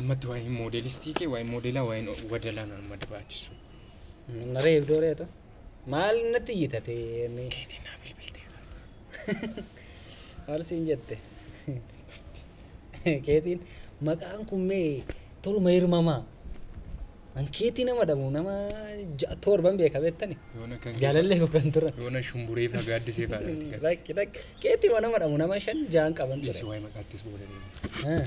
Ammatti waa'ee moodelistii kee waa'ee moodelaa waa'een wadalaa nama barbaachisu. Naree ibdoo reetu. Maal natti yitatee? Keetiin naa bilbiltee. Maal siin jette? Keetiin maqaan kun mee toluma hirmamaa. An keetii nama dhabu nama ja'a torban beeka beektani. Yoona kan Jaalallee koo kan turan. yoona shumburee faa gaaddisee faa dhaatti kan. Lakki lakki keetii nama dhabu nama shan ja'an qaban Dhiisi ture. waa'ee maqaattis booda deema. Ah.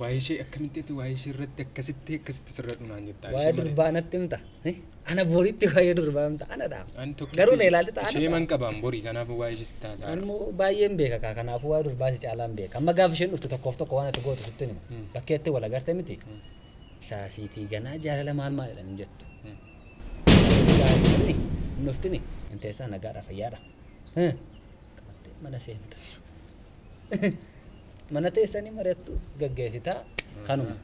Waa'ee ishee akkamitti ati waa'ee ishee irratti akkasitti akkasitti sirra dhunaan jirta. Waa'ee durbaa natti himta. Eh? Ana boritti waa'ee durbaa himta. Ana dhaaf. Garuu na ilaalti ta'a. Ishee man qabaan borii kanaaf waa'ee ishee sitti haasaa. Ani immoo baay'een beeka kaa kanaaf waa'ee durbaa si caalaan beeka. Amma gaafa isheen dhuftu tokkoof tokko waan ati gootu sitti hima. Hmm. Bakkee itti wal agarte miti. Hmm. Saasiitii ganaa jaalala maal maal jedhan jettu. Hmm. Nuftini. Inteessaa nagaadha fayyaadha. qabate mana seenta mana teessanii mari'attu gaggeessita kanuma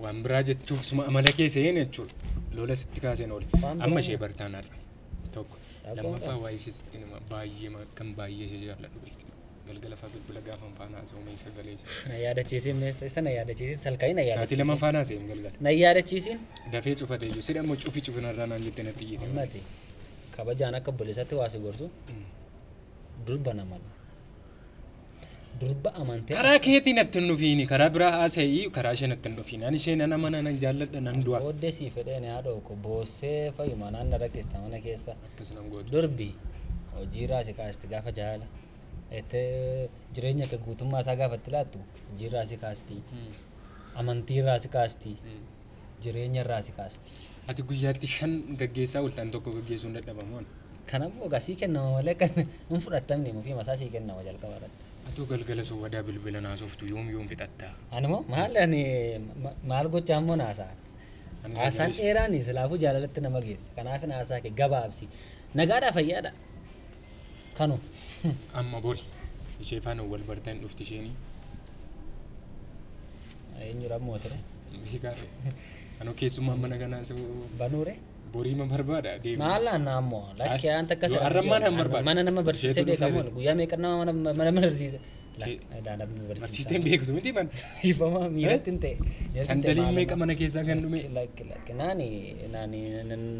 waan biraa jechuuf suma amala kee seen jechuudha lola sitti kaaseen oole Waan biraa amma ishee bartaan har'a tokko Rakkoo lammaffaa qaba. waa'ee ishee sitti nama baay'ee ma- kan baay'ee ishee jaalladhu beektu galgala fa'aa bilbila gaafa faanaa soomee sagalee ishee na yaadachiisin meessa isa na yaadachiisin salkaa'ii na sa'aatii lama yaadachiisin faanaa seen galgala na yaadachiisin dafee cufatee jiru sidhammoo cufi cufinarraa naan jettee natti iyyite ammati kabajaan akka obboleessaatti waa si gorsu Durba nama dha. Durba amantee. Karaa keetiin natti hin dhufiini. Karaa biraa haasa'ii karaa ishee natti hin dhufiini. Ani ishee nan amana nan jaalladha nan du'a. Booddee sii fedheen haa dhooku. Boossee fayyuma naanna rakkista mana keessa. Akkas nan gootu. Durbi hojiirraa si kaasti gaafa jaala. Itti jireenya kee guutummaa isaa gaafa itti laattu hojiirraa si kaasti. Mm. Amantiirraa si kaasti. Mm. jireenya irraa si kaasti. Ati guyyaatti shan gaggeessaa oolta an tokko gaggeessuun dadhabamoon. Kanammoo egaa sii kennama malee kan hin fudhattamne mufii masaa sii kennama jalqaba irratti. Atoo galgala soobadaa bilbila naasoftu yoom yoom fixatta. Ani moo maal ani ma- maal gochaa immoo naasaa. Ani Haasaan sagalee- dheeraan silaafuu jaalalatti nama geessa. Kanaaf haasaa kee gabaabsi. Nagaadhaa fayyaadha. Kanu amma bori ishee faana wal bartan dhufti isheenii. Eenyudha ammoo ture? Beekaa anoo keessummaan mana kanaa soo Banuure? boriima barbaada deemu. Maal naannaa ammoo? Lakkee Ay, waan takka yoo arrabmaan hin barbaadu. Mana nama barsiisee Isheetu dhufee beekamuun beeku. guyyaa meeqa nama mana mana barsiise? Ilaalam nu Barsiisteen beektu miti man. Dhiifama miiratti hin ta'e. Sandaliin meeqa mana keessaa kan dhume. Lakki lakki naani naani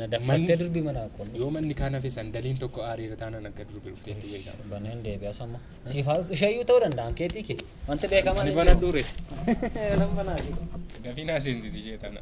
na daffattee durbi mana kun. Yoo manni kaan hafe sandaliin tokko aariira taanaan akka durbi dhuftee itti beekama. Banee hin deebi'a samma. Siifaa isheeyyuu ta'uu danda'an keetii kee. Wanti beekamaa Ani bana dure. Nan banaa fi. Dafii naa seensisi ishee tana.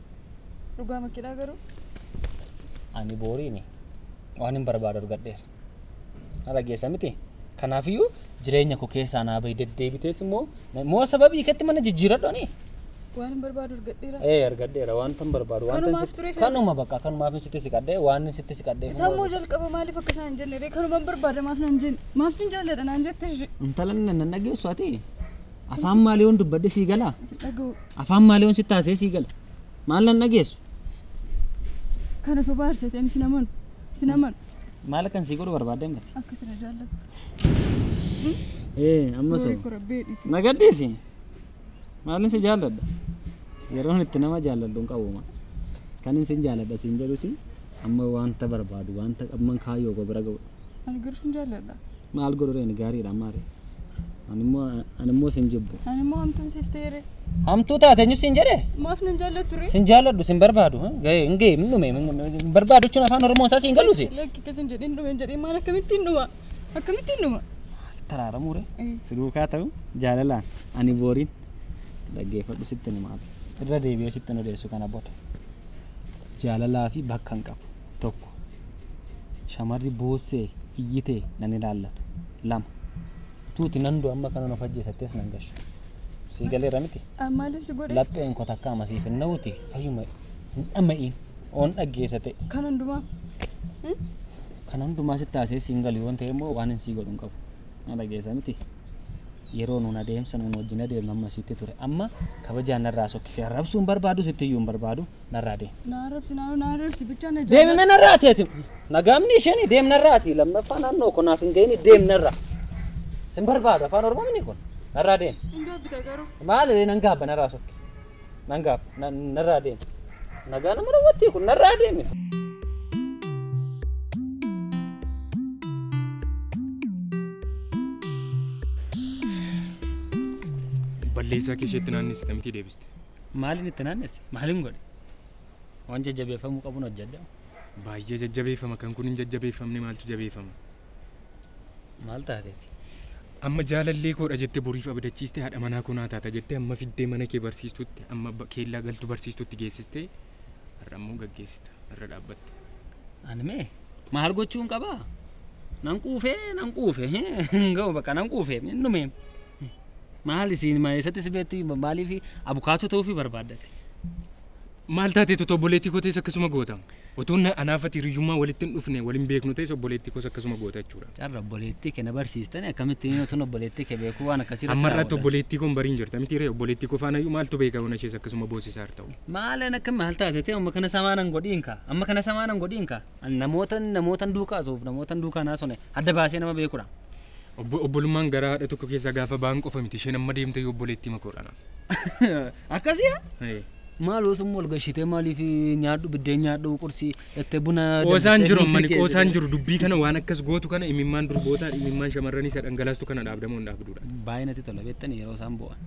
Dhugaa makkidhaa garuu. Ani booriini waan hin barbaadu argadheera. Na dhageessa miti. Kanaafiyyuu jireenya koo keessaa naa bahi deddeebitees immoo moo sababii keetti mana jijjiiradhooni. Waan hin barbaadu argadheera. Ee argadheera wanta hin barbaadu wanta Kanumaaf sitti- ture kana. kanuma bakka kanumaaf sitti siqadhee waan hin sitti siqadhee Isaa immoo jalqaba maaliif akka isaan hin jenne ree kanumaan barbaada maaf naan jenne maaf sin jaalladha naan jette ishee. intala nan dhageessu ati Afaan maaliyoon dubbadhe sii galaa? si dhaga'u Afaan maaliyoon sitti haasee sii gala? Maal nan dhageessu? kana sobaa arseete ani sinaman sinaman Maal akkan sii godhu barbaadde mati? akka tana jaallattu Ee, amma soo. Sorry, korabbee dhiitii. Na gadhiisi. Maalin si jaalladha? Yeroon itti nama jaalladhu hin qabu ma. Kan isin jaalladha siin jedhusi amma wanta barbaadu wanta qabman kaayyoo koo bira ga'u. Ani garuu sin jaalladha. Maal godhuree ani gaariidha ammaare. Ani immoo ani immoo sin jibbu. Ani immoo hamtuun siif ta'eere. Hamtuu taate eenyu siin jedhe? Maaf nan jaallattu ree? Sin jaalladhu sin barbaadu. ha? Gahee hin gahee hin dhume hin barbaadu jechuun afaan Oromoon isaa siin galuusi. Lakki akkas hin jedhin dhume hin jedhin maal akkamittiin dhuma? Akkamittiin dhuma? As taraaramuu ree? Eh. Si duukaa ta'u jaalalaan ani booriin dhaggeeffadhu sitti himaati. Irra deebi'ee sitti hin odeessu kana booda. Jaalalaa fi bakka hin qabu. 1. Shamarri boossee iyyite nan ilaallatu. 2. Tuuti nan du'a amma kanan of ajjeesattes nan gashu. Sii galeera miti? Maali si godhe? Lapheen koo takka ama siif hin na'uuti fayyuma hin dhama'iin oon dhaggeessa ta'e. Kan hundumaa. Kan hundumaa sitti haasee siin galu yoon ta'e immoo waan hin sii godhu hin qabu. Na dhageessa miti? Yeroo nuun adeemsa nuun wajjin adeemnu amma sitti ture. Amma kabajaan narraa sokkisee arrabsuu hin barbaadu sitti iyyuu hin barbaadu. narraa deemi. Naa arrabsi naa naa arrabsi bichaa na Deemi mana irraa ati ati. Nagaamni isheen deemna irraa ati lammaffaa naannoo kun naaf hin ga'ini deemna irraa. Sin barbaadu afaan oromoo mini kun narraa deemi. Hin gaabbita garuu. Maal nan gaabba narraa sokki. Nan gaabba na- narraa deemi. Nagaa nama rawwattii kun narraa deemi. Balleessaa kee isheetti naannessite mitii deebiste. Maaliin itti naannesse? Maaliin godhe? Waan jajjabeeffamuu qabuun hojjedha. Baay'ee jajjabeeffama kan kun hin jajjabeeffamne maaltu jabeeffama? Maal taateef? Amma jaalallee koodha jette boriif abdachiiste haadha manaa koo naa taata jette amma fiddee mana kee barsiistutti amma ba- keellaa galtu barsiistutti geessiste har'a immoo gaggeessita irra dhaabbatte. Ani mee maal gochuun qabaa? Nan quufee nan quufe hin ga'u bakka nan quufe hin dhume. Maal isiin ma eessatti si beektu maaliif abukaatoo ta'uufi barbaaddate? Maal taatee tuta obboleettii koo ta'es akkasuma goota. Utuu na- anaafati hiriyyummaa walitti hin dhufne waliin beeknu ta'es obboleettii koos akkasuma goota jechuudha. Carra obboleettii kee na barsiistani akkamitti inni utuun obboleettii kee beekuu waan akkasii irratti Amma irratti raawwatan? obboleettii koon bariin jirta miti ree obboleettii koo faana iyyuu maaltu beeka hona ishees akkasuma boosisaa irra ta'u. Maalan akka maal taate ta'e amma kana samaanan godhiin kaa amma kana samaanan godhiin kaa Ani namootan namootan duukaa asuuf namootan duukaa naasone adda baasee nama beekudha. Obbolummaan garaa haadha tokko keessaa gaafa ba'an qofa miti. Isheen amma deemte yoo obboleettii makoodha naaf. Akkasii maal osuma wal gashitee maaliif nyaadhu biddeen nyaadhu qursi itti buna Qoosaan jiru ammani qoosaan jiru dubbii kana waan akkas gootu kana imimmaan durbootaa imimmaan shamarranii isa dhangalaastu kana dhaabdamoo hin dhaabduudha. Baay'ee natti tola beektani yeroo isaan bo'an.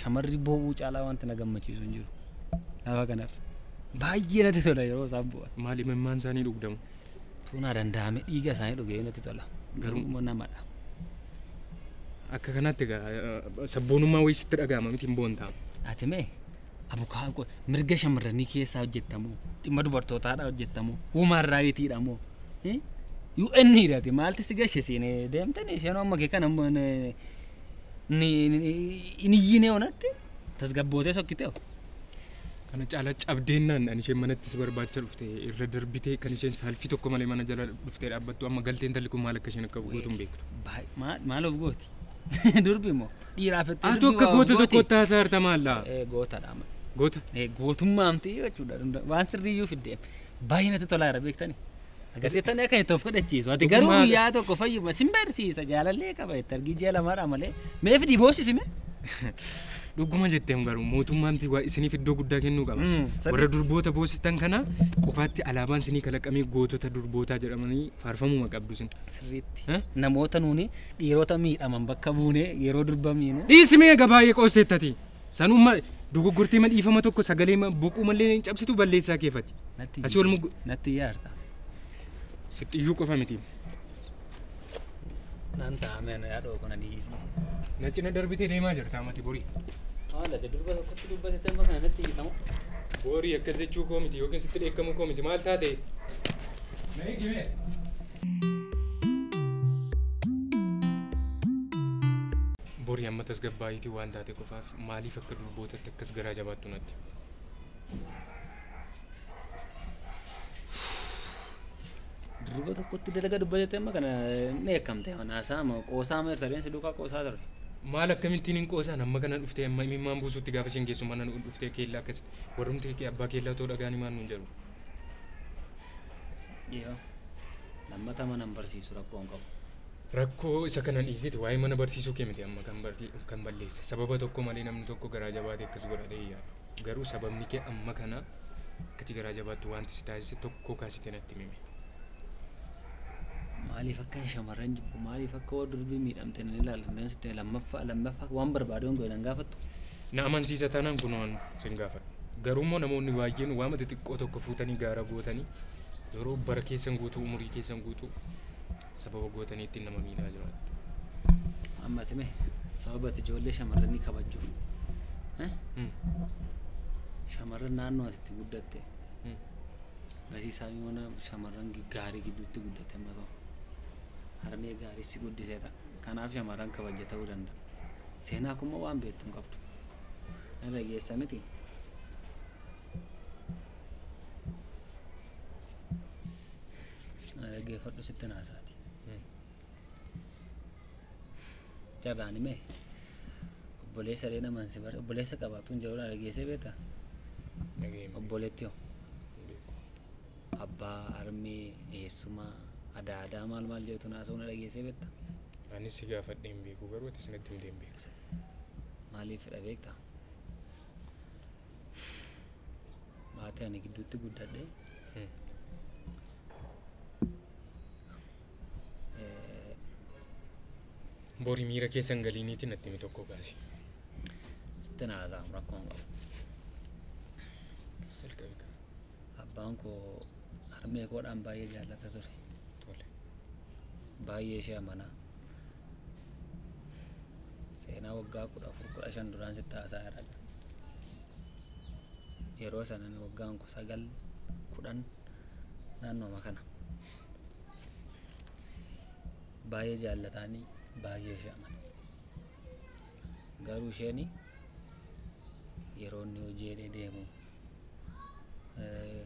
Shamarri bo'uu caalaa wanti na gammachiisu hin jiru. Lafa kanarra. Baay'ee natti tola yeroo isaan bo'an. Maal imimmaan isaanii dhugdamu. Utuu naa danda'ame dhiiga isaanii dhugee natti tola. Garuu immoo namadha. Akka kanaatti egaa eh, sabboonummaa wayii sitti dhaga'ama miti hin boontaa. Ati mee abukaa qo- mirga shamarranii keessaa hojjettamoo dhimma dubartootaadhaa hojjettamoo human raayitiidha moo Eh? UN dha ati maalti si gashe siin eh, deemtanii isheen amma kee kana amma ni- ni- ni- hin iyyinee onatti tasgabbootee sokkitee Kana caalaa cabdeennaan ani isheen manatti si barbaacha dhufte irra darbitee kan isheen saalfii tokko malee mana jala dhuftee dhaabbattu amma galtee intalli kun maal akka isheen akka gootu hin beektu. Baay- maa- Maal of gooti? Durbi moo? Dhiiraa fettee Atu durbi akka waa of goota gooti? tokko taasaa harta maallaa. Eh, Gootadha amma. Goota. Eh, Gootummaa amti jechuudha. Waan sirriiyyuu fiddeef. Baay'ee natti tolaa jira beektani. Agarsiiftonni akka itti of godhachiisu. Ati garuu Dhugumaa- guyyaa tokko fayyuma sin barsiisa jaalallee qaba itti argii ji'a lamaadha malee. Meef dhiboosisi mee? Dhuguma jetteem garuu mootummaan waa isiniif iddoo guddaa kennuu qaba. Mm, sadii. Warra durboota boosistan kana qofaatti alaabaan isinii kalaqamee gootota durbootaa jedhamanii faarfamuma qabdu isin. Sirriitti. Eh? Namoota nuuni dhiirota miidhaman bakka buunee yeroo durbamiinu Dhiisimee gabaayee qoosteettati. Sanuma dogoggortee ma dhiifama tokko sagalee ma boquu mallee hin cabsitu balleessaa keefati. Natti Asii ol muggu. Natti yaarta. Sitti iyyuu qofa miti. Naan taa'ame ana yaadoo kun ani dhiisne. Na cina darbitee deemaa jirta amati borii. Haala te durba tokkotti dubbate temma kana natti hiikamu. Borii akkas jechuu koo miti yookiin sitti dheekkamuu koo miti maal taate? Na eegimee. Borii amma tasgabbaa'iitii waan taate qofaaf maaliif akka durbootatti akkas garaa jabaattu natti. Durba tokkotti dalaga dubbatetti amma kana ni eekkamte manaasaa amma qoosaa amma irta deemsi duukaa qoosaa ture. Maal akkamittiin hin qoosaan amma kana dhuftee amma imimmaan buusutti gaafa isheen geessu mana nu dhuftee keellaa akkasitti warrumti kee abbaa keellaa otoo dhagaanii maal nuun jedhu. Yoo lammata mana hin barsiisu rakkoo hin qabu. Rakkoo isa kana dhiisiti waa'ee mana barsiisuu kee miti amma kan barti kan balleesse sababa tokko malee namni tokko garaa jabaate akkas godha ta'e yaadu garuu sababni kee amma kana akkati garaa jabaattu wanti si taasise tokko kaasite natti mime. Maaliif akkan shamarran jibbu maaliif akka warra durbii miidhamte nan ilaala nan sitti lammaffaa lammaffaa waan barbaadu hin godhe nan gaafattu. Na amansiisa taanaan kun waan sin gaafadha. Garuu immoo namoonni baay'een waama xixiqqoo tokko fuutanii gaara gootanii yeroo bara keessan guutuu umurii keessan guutuu sababa gootaniitti nama miidhaa jiraattu. Amma time sababa ati ijoollee shamarranii kabajuuf eh, Hmm. shamarran naannoo ati itti guddatte Hmm. gatii isaa yoona shamarran gi- gaarii gidduutti guddatte amma ta'u harmee gaarii si guddisee ta'a. Kanaaf shamarran kabaja ta'uu danda'a. Seenaa kun immoo waan beektu hin qabdu. Nan dhageessa miti. Na dhaggeeffadhu sittin haasaati. Carraani mee obboleessa illee namaan si bar obboleessa qabaatuun jedhudha dhageessee beekta Dhageenya. obboleetti hoo Beeku. abbaa harmee eessuma adaa adaa maal maal jedhutu naasoo na dhageessee beekta Anis si gaafadhee hin beeku garuu ati sanatti himtee hin beektu. maaliif fedha beekta maatii ani gidduutti guddadhe Eh, Bori miira keessan galiiniitiin natti himi tokko gaasi. sitti na haasa'amu rakkoon qabu Jalqabi kan abbaan koo harmee koodhaan baay'ee jaallata ture tole. baay'ee ishee amanaa seenaa waggaa kudha afur kudha shan duraan sitti haasaa irra yeroo sanan waggaan ku sagal kudhan naannooma kana baay'ee jaallataanii baay'ee ishee amana garuu isheen yeroo inni hojii hidhee deemu eh,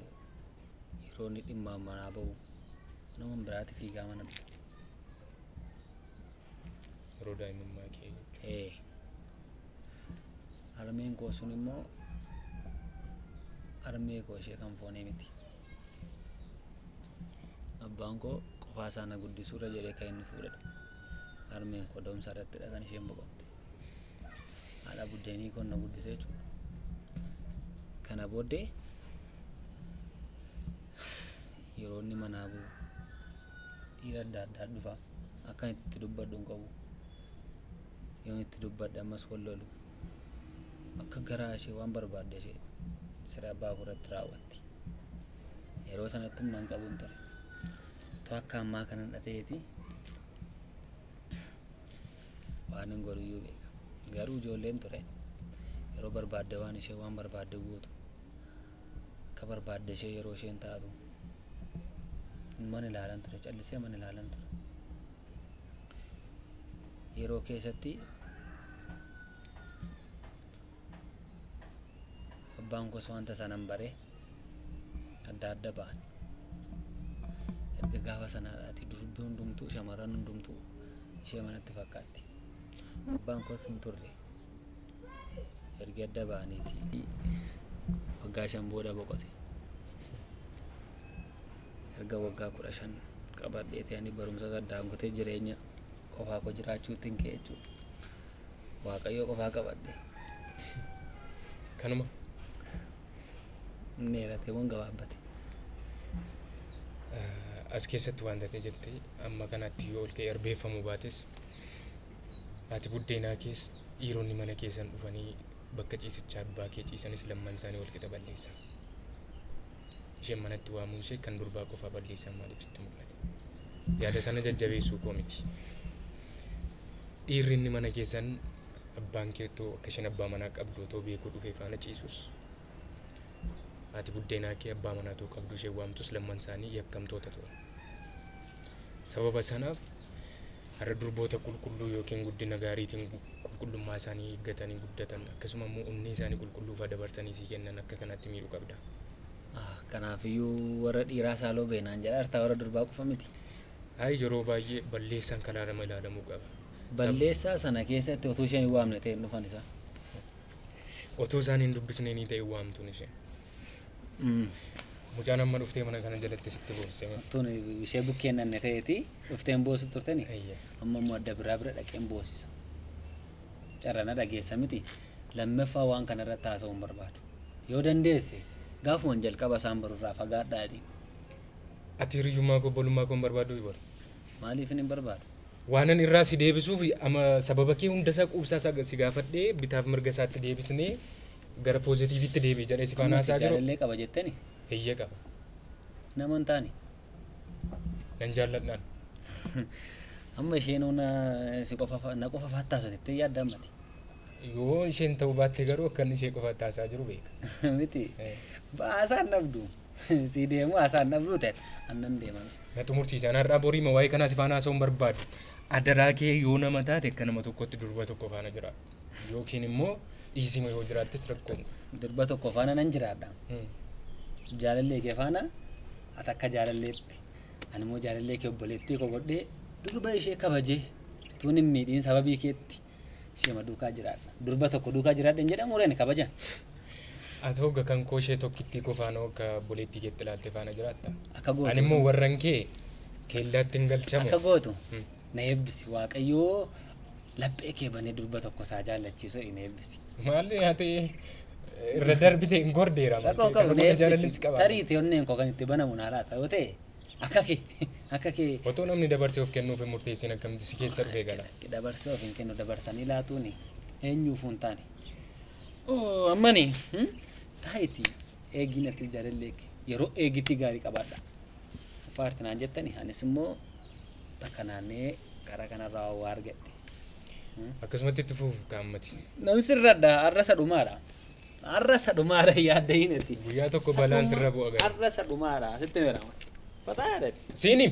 yeroo inni dhimma manaa ba'u nama biraatti fiigaa mana dhufu Yeroo daa'imummaa kee jechuudha. ee harmeen koo sun immoo harmee koo ishee kan foonee miti abbaan koo qofaa isaa na guddisuurra jedhee kan inni fuudhedha harmeen koo da'umsa irrattidha kan isheen boqotte haadha buddeenii koo na guddise jechuudha kana booddee yeroo inni manaa bu'u dhiira adda addaa dhufa akkan itti dubbadhu hin qabu yoon itti dubbadhe ammas wal lolu akka garaa ishee waan barbaadde ishee siree abbaa koo irratti raawwatti yeroo sanatti humna hin qabu hin ture to akka ammaa kana hin dhateeti waan hin godhuyyuu beeka garuu ijoolleen ture yeroo barbaadde waan ishee waan barbaadde guutu akka barbaadde ishee yeroo isheen taatu man ilaalan ture callisee man ilaalan ture yeroo keessatti abbaan koos wanta sanan bare adda adda ba'an erga gaafa sanaadhaati durbi hundumtuu shamarran hundumtuu ishee manatti fakkaatti abbaan koos hin turre erga adda ba'aniiti waggaa shan booda boqote erga waggaa kudha shan qabadheeti ani barumsa saddaan kutee jireenya qofaa koo jiraachuutti hin ka'e jechuudha waaqayyoo qofaa qabadhe kanuma inni eeratee moo gabaabbate as keessatti waan tatee jette amma kanatti yoo ol ka'e erbeeffamuu baates Ati buddeenaa kees dhiironni mana keessan dhufanii bakka ciisichaa abbaa kee ciisanis lamman isaanii walqixa balleessan. Isheen manatti waamuun ishee kan durbaa qofaa balleessan maaliif sitti mul'ate? Yaada sana jajjabeessuu koo miti. Dhiirri inni mana keessan abbaan kee otoo akka isheen abbaa manaa qabdu otoo beekuu dhufee faana ciisus Haati buddeenaa kee abbaa manaa ta'uu qabdu ishee waamtus lamman isaanii yakkamtoota turan. Sababa sanaaf har'a durboota qulqulluu yookiin guddina gaariitiin qulqullummaa isaanii eeggatanii guddatan akkasuma immoo onnee isaanii qulqulluufaa dabarsanii sii kennan akka kanaatti miidhuu qabda. Ah, Kanaafiyyuu warra dhiiraa saaloo beenaan jedha hartaa warra durbaa qofa miti. Ay yeroo baay'ee balleessaan kanaa lama ilaalamuu qaba. Sab- Balleessaa sana keessatti utuu isheen hin waamne ta'e hin dhufan isaa. Otuu isaan hin dubbisnee nii ta'e waamtuun ishee. Mucaan amma dhuftee mana kana jalatti sitti boossee. Tun ishee bukkee nanne ta'eeti dhufteen boosu turteni. Eeyyee. Amma immoo adda biraa bira dhaqeen boosisa. Carrana dhageessa miti lammaffaa waan kana irratti haasa'uu hin barbaadu. Yoo dandeesse gaafuman jalqaba isaan barurraa fagaadhaa jedhiin. Ati hiriyyummaa koo obbolummaa koo hin barbaaddu Ibor. Maaliifin hin barbaadu? Waanan irraa si deebisuuf ama sababa kee hunda isaa quubsaa isaa si gaafadhee bitaaf mirga isaatti deebisnee gara poozitiivitti deebi'i jedhee si faana Amma ati haasaa jiru. jaalallee qaba jetteni? Eeyyee qaba. Nama hin taane. Nan jaalladhaan. Amma isheen hona si qofa fa- na qofa faattaasa jettee yaadda ammati. Yoo isheen ta'uu baatte garuu akka inni ishee qofa taasaa jiru beeka. Miti. Eh. Baasaan dhabdu. Sii deemu haasaan dhabduu ta'e annan deeman. Na xumursiisaan har'aa boriima waa'ee kanaa si faana haasa'uun barbaadu. Adaraa kee yoo nama taate akka nama tokkotti durba tokko faana jira. Yookiin immoo dhiisima yoo jiraattes rakkoon. Durba tokko faana nan jiraadha. Hmm. Jaalallee kee faana ati akka jaalalleetti ani immoo jaalallee kee obboleettii koo godhee durba ishee kabajee tuun hin miidhiin sababii keetti Ishema duukaa jiraadha. Durba tokko duukaa jiraadha hin jedhamu reen kabajan. Ati hogga kan koo ishee tokkittii kofaanoo akka boleettii keetti ilaalte faana jiraatta. Akka gootu. Ani immoo warran kee keellaatti hin galchamu. Akka gootu Hmm. na eebbisi waaqayyoo laphee kee banee durba tokko isaa jaallachiisu hin eebbisi. Maalli haa ta'e irra darbite hin gordeera. Rakkoo qabu na eebbisi. Jaalallis qaba. Tarii ta'e onneen koo kan itti banamu na laata yoo ta'e Akka kee akka kee Otoo namni dabarsee of kennuuf hin murteessin akkamitti si keessa dhufee gala? Lakki dabarsee of hin kennu dabarsanii laatuuni eenyuufuu hin taane. Oo ammani hmm? taa'iti eegiin atis jaalallee kee yeroo eegitii gaarii qabaadha. Faarti naan jettani anis immoo takka naannee karaa kanarraa waa argadhe. Akkasumatti itti fuuf kaammati. Nan sirradha arrasa dhumaadha. Har'a isa dhumaara hin yaaddahin ati. Guyyaa tokko balaan sirra bu'a gara. Har'a isa dhumaara sitti meerama. Fataadha. Siini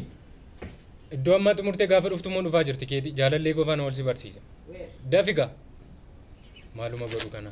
iddoo ammaa xumurtee gaafa dhuftu immoo dhufaa jirti keeti jaalallee gofaan wal si barsiisa. Dafiga maaluma godhu kana.